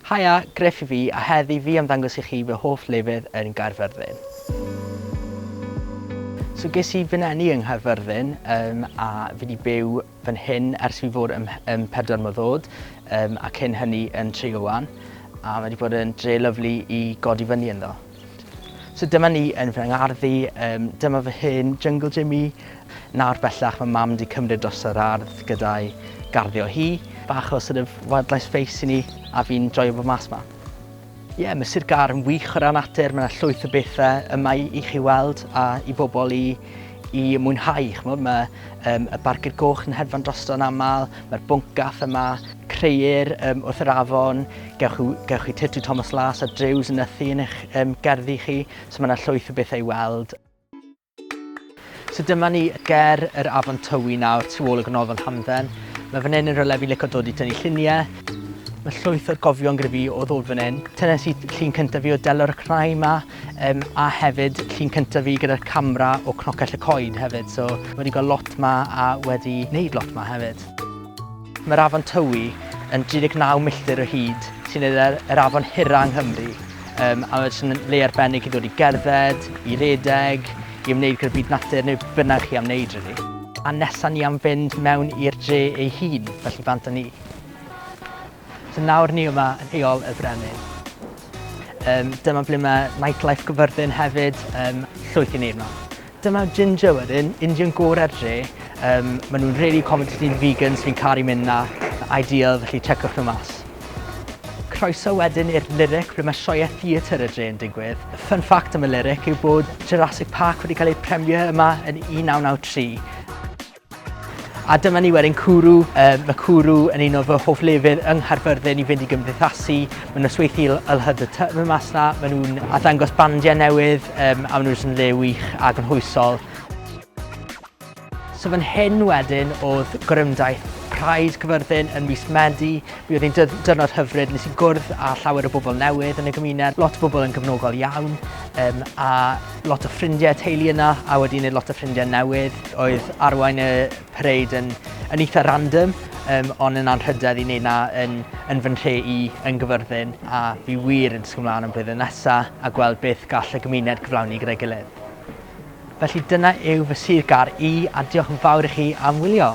Haia, Griff yw fi a heddi fi am ddangos i chi fy hoff lefydd yn Gaerfyrddin. So ges i fy neni yng Nghaerfyrddin yym a fi 'di byw fan hyn ers fi fod ym ym pedwar mlwydd o'd yym a cyn hynny yn Tregawan a ma' 'di bod yn dre lyfli i godi fyny ynddo. So dyma ni yn fy ngardd i, yym dyma fy hen jyngl gym i. Nawr bellach mae Mam 'di cymryd dros yr ardd gyda'i garddio hi. Bach o sort of wildlife space i ni a fi'n joio bod mas 'ma. Ie, mae Sir Gâr yn wych o ran natur, mae 'na llwyth o bethe yma i i chi weld a i bobl i i mwynhau, chmod, mae um, y barcud goch yn hedfan drosto'n aml, mae'r bwncath yma, creu'r um, wrth yr afon, gewch, gewch chi Tyrtu Thomas Las a Drews yn ythu yn eich um, gerddi chi, so mae yna llwyth o bethau i weld. So dyma ni ger yr afon Tywi nawr, tu ôl y gronofon hamdden. Mae fan hyn yn rhywle fi'n licio dod i tynnu lluniau. Mae llwyth o'r gofion gyda fi o ddod fan hyn. Tynes i llun cyntaf fi o delor y cnau yma, Yym a hefyd llun cyntaf fi gyda'r camera o Cnocell y Coed hefyd, so wedi gweld lot 'ma a wedi wneud lot 'ma hefyd. Mae'r afon Tywi yn 39 milltir o hyd, sy'n neud e yr afon hira yng Nghymru, yym a mae jyst yn le arbennig i ddod i gerdded, i redeg, i ymwneud gyda byd natur neu be bynnag chi am wneud rili. A nesa ni am fynd mewn i'r dre ei hun, felly bant â ni. So nawr ni yma yn heol y Brenin. Um, dyma ble mae Nightlife Cyfyrddin hefyd, um, llwyth i ni yma. Dyma Ginger wedyn, Indian gorau'r dre. Um, maen nhw'n really accommodating vegans, fi'n caru mynd na, ideal, felly checwch nhw mas croeso wedyn i'r Lyric ble mae sioe theatr y dre yn digwydd. Fun fact am y Lyric yw bod Jurassic Park wedi cael ei premio yma yn 1993. A dyma ni wedyn cwrw, uh, mae cwrw yn un o fy hoff lefydd yng Nghaerfyrddin i fynd i gymdeithasu. Mae'n nosweithi LHD y Tyfn mas na, maen nhw'n addangos bandiau newydd um, a maen nhw'n yn le wych a gynhwysol. So fan hyn wedyn oedd gorymdaith Pride Cyfyrddin yn mis Medi. Mi oedd hi'n dyrnod hyfryd, nes i gwrdd â llawer o bobl newydd yn y gymuned, lot o bobl yn gyfnogol iawn, um, a lot o ffrindiau a teulu yna a wedi wneud lot o ffrindiau newydd. Oedd arwain y parade yn, yn eitha random, um, ond yn anrhydedd i wneud na yn, yn fy nhre i yn gyfyrddin a fi wir yn disgwyl mlaen am blwyddyn nesa a gweld beth gall y gymuned gyflawni gyda'i gilydd. Felly dyna yw fy sir gar i a diolch yn fawr i chi am wylio.